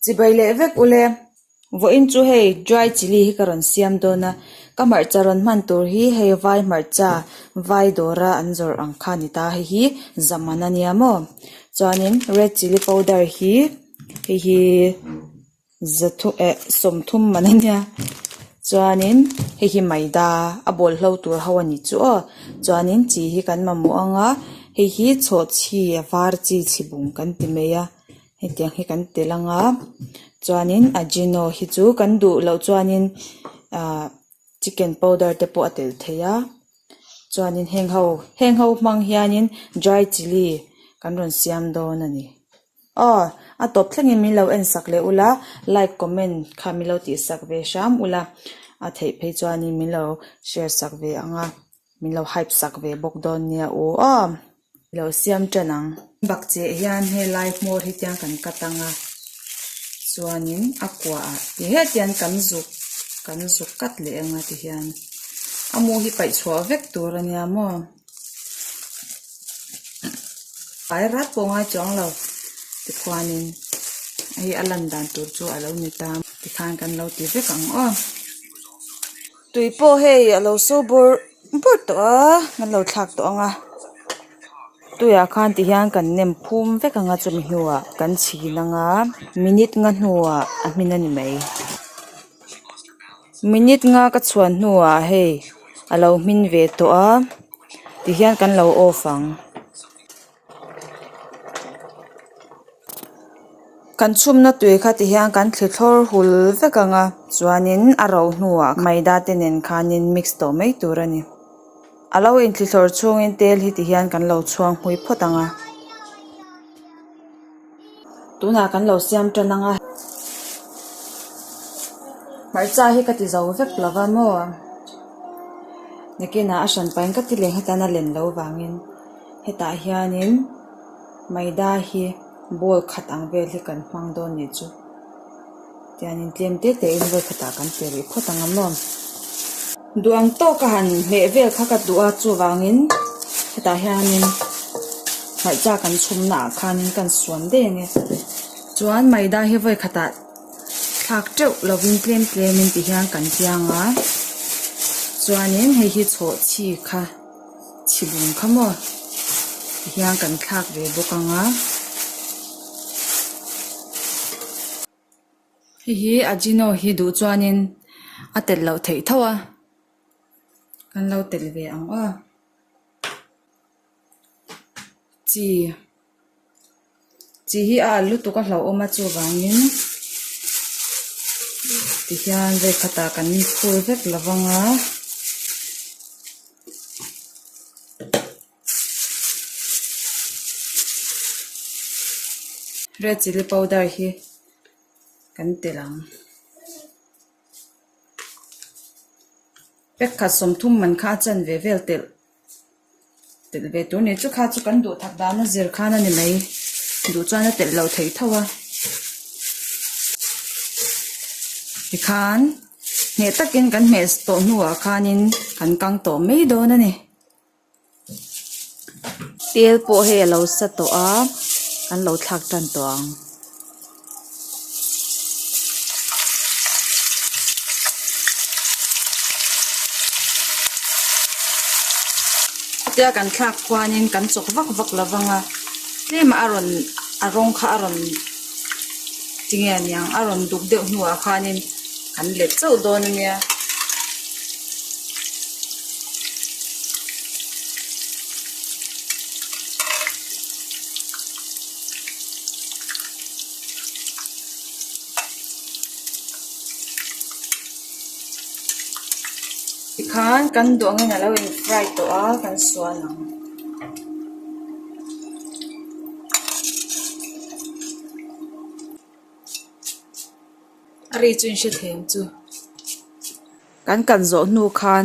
Chibai leh vek u le, vawiin chu hei dry chilli hi ka rawn siam dawn a, ka hmarcha rawn hman tur hi hei vai hmarcha vai dawra an zawrh ang kha a ni ta, hei hi zaman a nia maw, chuanin red chilli powder hi hei hi. Za thu eh sawmthum man a nia chuanin hei hi maida a bawlhlo tur ho a ni chu aw chuanin chi hi kan mamawh ang a hei hi chhawhchhi a var chi chhibum kan ti mai a hetiang hi kan tel ang a chuanin ajino hi chu kan duh loh chuanin ah chicken powder te pawh a tel thei a chuanin heng ho heng ho hmang hianin dry chilli kan rawn siam dawn a ni. Aww a tawp thlengin min lo en sak leh ula like comment kha min lo tih sak ve hram ula a theih phei chuanin min lo share sak ve ang a min lo hype sak ve bawk dawn nia u aww i lo siam tan ang. Bakcheh hian helai hmawr hi tiang kan cut anga chuanin a kuaha ti hetian kan zuk kan zuk cut leh anga tihian a mu hi paih chhuah vek tur ania maw. Ai rat pawh ngai chu ang lo, tikhuanin hei a lan dan tur chu a lo ni ta a, tikhan kan lo ti vek ang aw. Tui pawh hei a lo saw bur bur tawh a, kan lo thlak tawh ang a, tuiah khan ti hian kan nem phum vek ang a, chumi hnuah kan chhin ang a, minute nga hnuah a hmin a ni mai. Minute nga ka chhuan hnuah hei a lo hmin ve tawh a tihian kan lo off ang kan chhumna tui kha tihian kan thli thlawr hul vek ang a chuanin a ro hnuah maida te nen khanin mix tawh mai tur a ni a lo in thli thlawr chhungin tel hi tihian kan lo chhuang hmui phawt ang a. Tunah kan lo siam tan ang a, hmarcha hi ka ti zo vek lo va maw, Nikina a hran pahin ka ti leh nghet a, a len lo vangin hetah hianin Maida hi ball khat ang vel hi kan hmang dawn ni chu. Tian in tlem te te in vawi khatah kan pe rih phawt ang a maw? Duh ang tawk a han hmeh vel kha ka duh a, chuvangin hetah hianin hmarcha kan chhumna ah khanin kan suan daih ang e. Chuan Maida hi vawi khatah thlak teuh lovin tlem tlemin ti hian kan tiang a, chuanin hei hi chhawhchhi kha chhibum kha maw ti hian kan thlak ve bawk ang a hei hi ajino hi duh chuanin a tel loh theih tho a kan lo tel ve ang aw chi-- Chi hi a al lutuk a hlauhawm a, chuvangin tihian vei khatah kan phur vek lo vang a. Red chilli powder hi kan telh ang. Pack khat sawm thum man kha a chan ve vel telh. telh ve tur nei chu kha chu kan duhthak dana zir khan a ni mai duh chuan a telh lo thei tho a tikhan hneh takin kan hmeh tawh hnuah khanin kan kang tawh mai dawn a ni tel pawh hei a lo sa tawh a kan lo thlak tan tawh ang. Chutia kan thlak khuanin kan chawk vak vak lo vang a, tlem ah a rawn a rawng kha a rawn ti nge niang a rawn duk deuh hnuah khanin kan let chauh dawn a nia. Tikhan kan duangin alo in fry tawh a kan suan ang. A ri chu in hre thei ang chu. Kan kan zawh hnu khan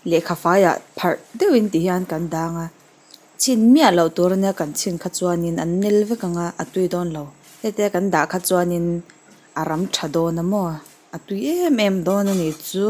lehkha faiah pharh deuhin ti hian kan dang a. Chhin miah loh tur ania kan chhin kha chuanin an nel vek ang a, a tui dawn lo. Hete kan dah kha chuanin a ram tha dawn a maw, a tui em em dawn a nih chu.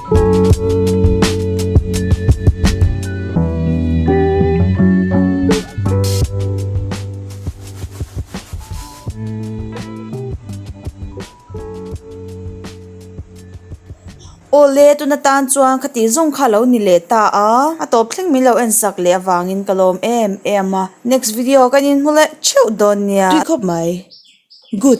Aw le, tun atan chuan kha tih zawng kha a lo ni leh ta a, a tawp thleng min lo en sak leh avangin ka lawm em em a, next video kan inhmu leh theuh dawn nia. Tui khawp mai. Good.